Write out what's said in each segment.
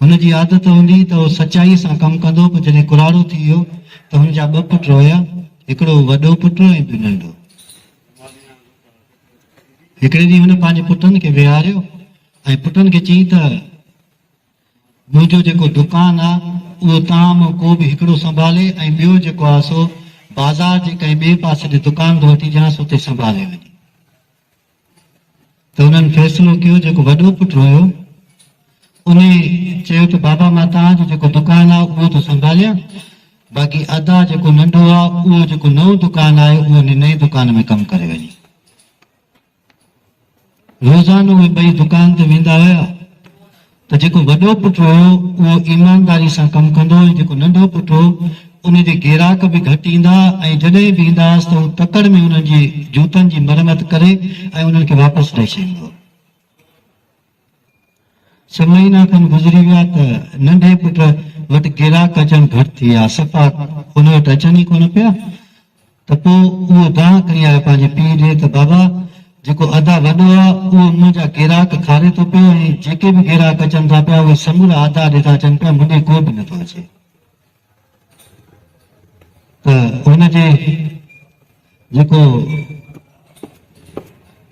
هن جي عادت هوندي ته هو سچائيء سان ڪم ڪندو، پر جڏهن ڪراڙو ٿي ويو ته هن جا ٻه پٽ هيا، هڪڙو وڏو پٽ ۽ ٻيو ننڍو. هڪڙي ڏينهن هن پنهنجي پٽن کي ويهاريو ۽ پٽن کي چيائين ته، منهنجو جيڪو دڪان آ، اهو توهان مان ڪو به هڪڙو سنڀالي ۽ ٻيو جيڪو آ سو بازار جي ڪنهن ٻئي پاسي جي دڪان تان وٺي ڏيانس، اتي سنڀالي وڃي. ته هنن فيصلو ڪيو جيڪو وڏو پٽ رويو انهي چيو ته بابا مان توهان جو جيڪو دڪان آهي اهو ٿو سنڀاليان باقي ادا جيڪو ننڍو آهي اهو جيڪو نئون دڪان آهي اهو انهي نئين دڪان ۾ ڪم ڪري وڃي. روزانو اهي ٻئي دڪان تي ويندا هيا ته جيڪو وڏو پٽ هيو اهو ايمانداري سان ڪم ڪندو ۽ جيڪو ننڍو پٽ هو ان جي گيراڪ به گهٽ ايندا ۽ جڏهن به ايندا هئس ته هو تڪڙ ۾ انهن جي جوتن جي مرمت ڪري ۽ انهن کي واپس ڏئي ڇڏيندو هو. ڇهه مهينا کن گذري ويا ته ننڍي پٽ وٽ گيراڪ اچڻ گهٽ ٿي ويا، صفا هن وٽ اچن ئي ڪونه پيا. ته پوء اهو دانهن کڻي آيو پنهنجي پيء ڏي ته بابا جيڪو ادا وڏو آ اهو منهنجا گيراڪ کاري ٿو پيو ۽ جيڪي به گيراڪ اچن ٿا پيا اهي سمورا ادا ڏي ٿا اچن پيا مون ڏي ڪو به نه ٿو اچي ته هن جي جيڪو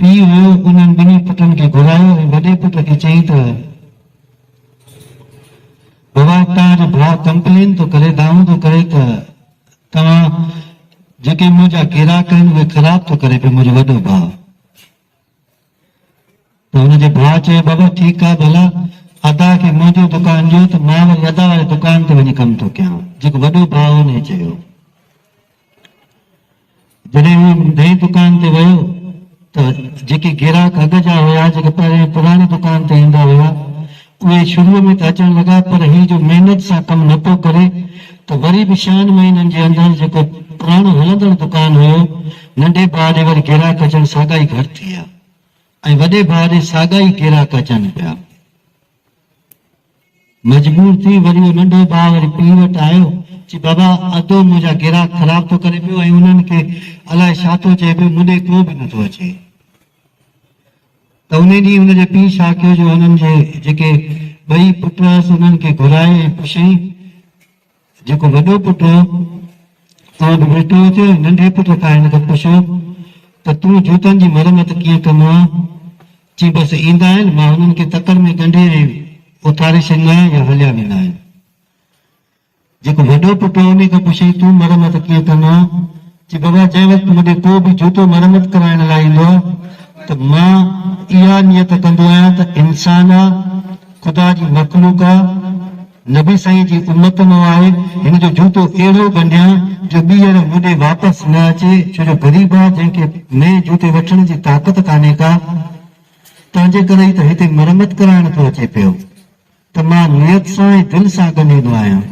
پيء هيو انهن ٻنهي پٽن کي گهرايو ۽ وڏي پٽ کي چيائين ته بابا تنهنجو ڀاء ڪمپلين ٿو ڪري دانهون ٿو ڪري ته توهان جيڪي منهنجا گراڪ آهن اهي خراب ٿو ڪري پيو منهنجو وڏو ڀاء. ته هن جي ڀاء چيو بابا ٺيڪ آهي ڀلا ادا کي منهنجو دڪان ڏيو ته مان وري ادا واري دڪان تي وڃي ڪم ٿو ڪيان جيڪو وڏو ڀاء هو ان چيو. جڏهن هو نئين دڪان تي ويو ته جيڪي گراهڪ اڳ جا هيا، جيڪي پهرين پراڻي دڪان تي ايندا هيا، اهي شروع ۾ ته اچڻ لڳا پر هي جو محنت سان ڪم نه پيو ڪري ته وري به ڇهن مهينن جي اندر جيڪو پراڻو هلندڙ دڪان هيو، ننڍي ڀاء ڏي وري گراهڪ اچڻ ساڳا ئي گهٽ ٿي ويا ۽ وڏي ڀاء ڏي ساڳا ئي گراهڪ اچن پيا. مجبور ٿي وري اهو ننڍو ڀاء وري پيء وٽ آيو، چي بابا ادو منهنجا گراهڪ خراب ٿو ڪري پيو ۽ انهن کي الاء ڇا ٿو چئي پيو مون ڏي ڪو به نه ٿو اچي. ته انهي ڏينهن هن جي پيء ڇا ڪيو جو هنن جي جيڪي ٻئي پٽ هئس انهن کي گهرائي ۽ پڇيائين، جيڪو وڏو پٽ هو، سو به ويٺو هو چيو، ننڍي پٽ کان هن کي پڇو ته تون جوتن جي مرمت ڪيئن ڪندو آهين؟ چيائين، بس ايندا آهن، مان هنن کي تڪڙ ۾ ڳنڍي ۽ اٿاري ڇڏيندا آهيان يا هليا ويندا آهن. جيڪو وڏو پٽ هو، انهي کان پڇيائين، تون مرمت ڪيئن ڪندو آهين؟ چيائين، بابا جنهن وقت مون ڏي ڪو به جوتو مرمت ڪرائڻ لاء ايندو آهي ته مان اها نيت ڪندو آهيان ته انسان آ، خدا جي مخلوق آ، نبي سائين جي امت مان آهي، هن جو جوتو اهڙو ڳنڍيان جو ٻيهر مون ڏي واپس نه اچي، ڇو جو غريب آ، جنهن کي نئين جوتي وٺڻ جي طاقت ڪانهي ڪا، تنهن جي ڪري ئي ته هتي مرمت ڪرائڻ ٿو اچي پيو، ته مان نيت سان ۽ دل سان ڳنڍيندو آهيان.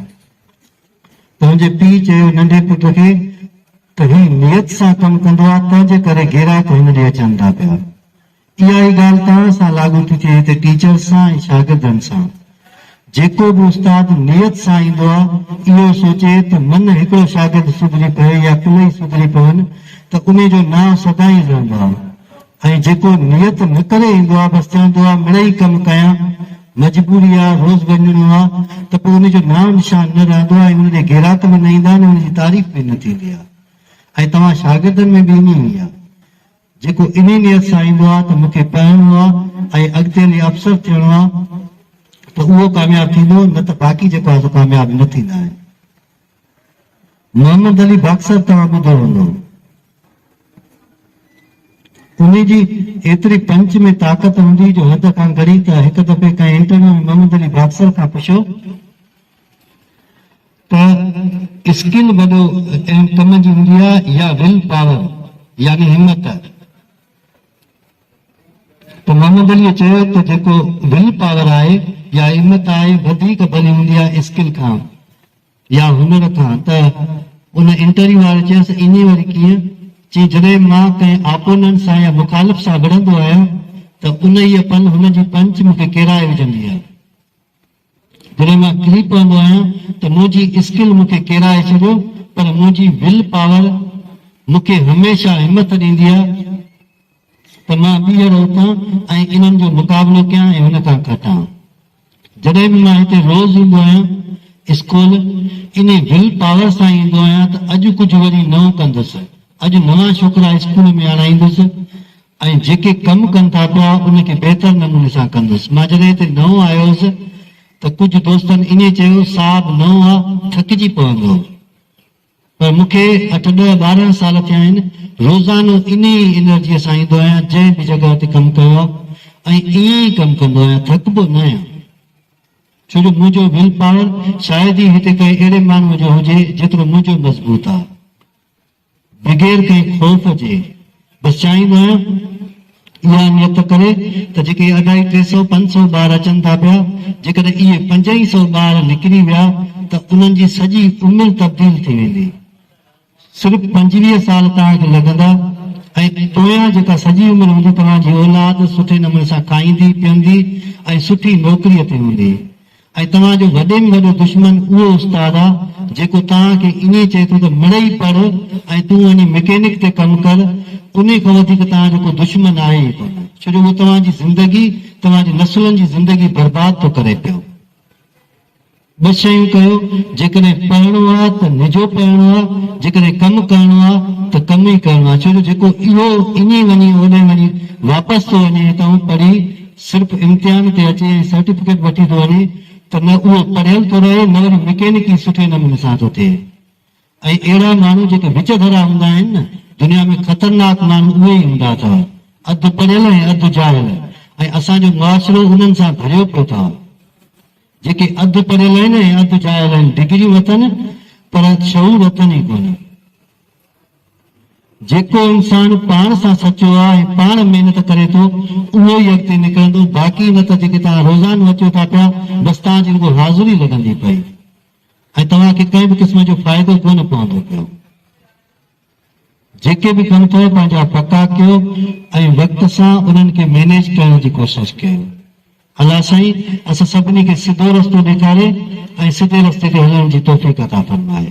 تنهنجي پيء چيو ننڍي پٽ کي ته هي نيت سان ڪم ڪندو آ، تنهن جي ڪري گيراڪ هن ڏي اچن ٿا پيا. اها ئي ڳالهه توهان سان لاڳو ٿي ٿئي ته ٽيچرز سان ۽ شاگردن سان. جيڪو به استاد نيت سان ايندو آهي، اهو سوچي ته من هڪڙو شاگرد سڌري پوي يا ڪلهي سڌري پون ته انهي جو نانء سدائين رهندو آهي ۽ جيڪو نيت نه ڪري ايندو آهي بس چوندو آهي مڙئي ڪم ڪيان، مجبوري آهي، روز وڃڻو آهي ته پوء انهي جو نانء نشان نه رهندو آهي ۽ ان ڏي گيراڪ به نه ايندا ۽ انهي جي تعريف به نه ٿيندي آهي ۽ توهان شاگردن ۾ به ائين ئي آهي. جيڪو انهي نيت سان ايندو آهي ته مون کي پڙهڻو آهي ۽ اڳتي هلي افسر ٿيڻو آهي ته اهو ڪامياب ٿيندو نه ته باقي جيڪو آهي سو ڪامياب نه ٿيندا آهن. محمد علي باڪسر توهان ٻڌو هوندو. انهي جي ايتري پنچ ۾ طاقت هوندي جو حد کان گهڻي ته هڪ دفعي ڪنهن انٽرويو ۾ محمد علي باڪسر کان پڇيو. ڪا اسڪل وڏو اهم ڪم جي هوندي آهي يا ول پاور يعني همت؟ ته محمد عليء چيو ته جيڪو ول پاور آهي يا همت آهي وڌيڪ ڀلي هوندي آهي اسڪل کان يا هنر کان ته ان انٽرويو واري چيس ائين وري ڪيئن؟ چي جڏهن مان ڪنهن آپوننٽ سان يا مخالف سان وڙهندو آهيان ته انهيء پل هن جي پنچ مون کي ڪيرائي وجهندي آهي. جڏهن مان ڪري پوندو آهيان ته منهنجي اسڪل مون کي ڪيرائي ڇڏيو پر منهنجي ول پاور مون کي هميشه همٿ ڏيندي آهي ته مان ٻيهر اٿان ۽ انهن جو مقابلو ڪيان ۽ هن کان کٽان. جڏهن به مان هتي روز ايندو آهيان اسڪول انهي ول پاور سان ئي ايندو آهيان ته اڄ ڪجهه وري نئون ڪندس، اڄ نوان ڇوڪرا اسڪول ۾ آڻائيندس، ۽ جيڪي ڪم ڪن ٿا پيا ان کي بهتر نموني سان ڪندس. مان جڏهن هتي نئون آيو هوس ته ڪجهه دوستن ائين چيو صاحب نئون آ ٿڪجي پوندؤ پر مون کي اٺ ڏهه ٻارهن سال ٿيا آهن روزانو انهي ئي انرجيء سان ايندو آهيان جنهن به جڳهه تي ڪم ڪيو آ ۽ ائين ئي ڪم ڪندو آهيان ٿڪبو ناهيان ڇو جو منهنجو ويل پاور شايد ئي هتي ڪنهن اهڙي ماڻهوء جو هجي جيترو منهنجو مضبوط آ. بغير ڪنهن خوف جي بس چاهيندو آهيان اها نيت ڪري ته جيڪي اڍائي ٽي سئو پنج سئو ٻار اچن ٿا پيا جيڪڏهن اهي پنج ئي سئو ٻار نڪري ويا ته انهن جي سڄي عمر تبديل ٿي ويندي صرف پنجويهه سال توهان کي لڳندا ۽ پويان جيڪا سڄي عمر هوندي توهان جي اولاد سٺي نموني سان کائيندي پيئندي ۽ سٺي نوڪري تي هوندي ۽ توهان جو وڏي ۾ وڏو دشمن اهو استاد آ جيڪو توهان کي ائين چئي ٿو ته مڙئي پڙهه ۽ تون وڃي مڪينڪ تي ڪم ڪر، انهي کان وڌيڪ توهان جو ڪو دشمن آهي ئي ڪونه، ڇو جو اهو توهان جي زندگي، توهان جي نسلن جي زندگي برباد ٿو ڪري پيو. ٻه شيون ڪيو، جيڪڏهن پڙهڻو آ ته نجو پڙهڻو آ، جيڪڏهن ڪم ڪرڻو آ ته ڪم ئي ڪرڻو آ، ڇو جو جيڪو اهو ائين وڃي اوڏانهن وڃي واپس ٿو وڃي ۽ توهان پڙهي صرف امتحان تي اچي ۽ سرٽيفڪيٽ وٺي ٿو وڃي ته نه اهو پڙهيل ٿو رهي نه وري مڪينڪي سٺي نموني سان ٿو ٿئي ۽ اهڙا ماڻهو جيڪي وچ ڌرا هوندا آهن نه دنيا ۾ خطرناڪ ماڻهو اهي ئي هوندا اٿئو اڌ پڙهيل ۽ اڌ جاهل ۽ اسان جو معاشرو انهن سان ڀريو پيو اٿئو جيڪي اڌ پڙهيل آهن ۽ اڌ جاهل آهن ڊگريون اٿن پر شعور اٿن ئي ڪونه. جيڪو انسان پاڻ سان سچو آ ۽ پاڻ محنت ڪري ٿو اهو ئي اڳتي نڪرندو باقي نه ته جيڪي توهان روزانو اچو ٿا پيا بس توهان جي رڳو حاضري لڳندي پئي ۽ توهان کي ڪنهن به قسم جو فائدو ڪونه پوندو پيو. جيڪي به ڪم اٿو پنهنجا پڪا ڪيو ۽ وقت سان انهن کي مينيج ڪرڻ جي ڪوشش ڪيو. الله سائين اسان سڀني کي سڌو رستو ڏيکاري ۽ سڌي رستي تي هلڻ جي توفيق عطا فرمائي.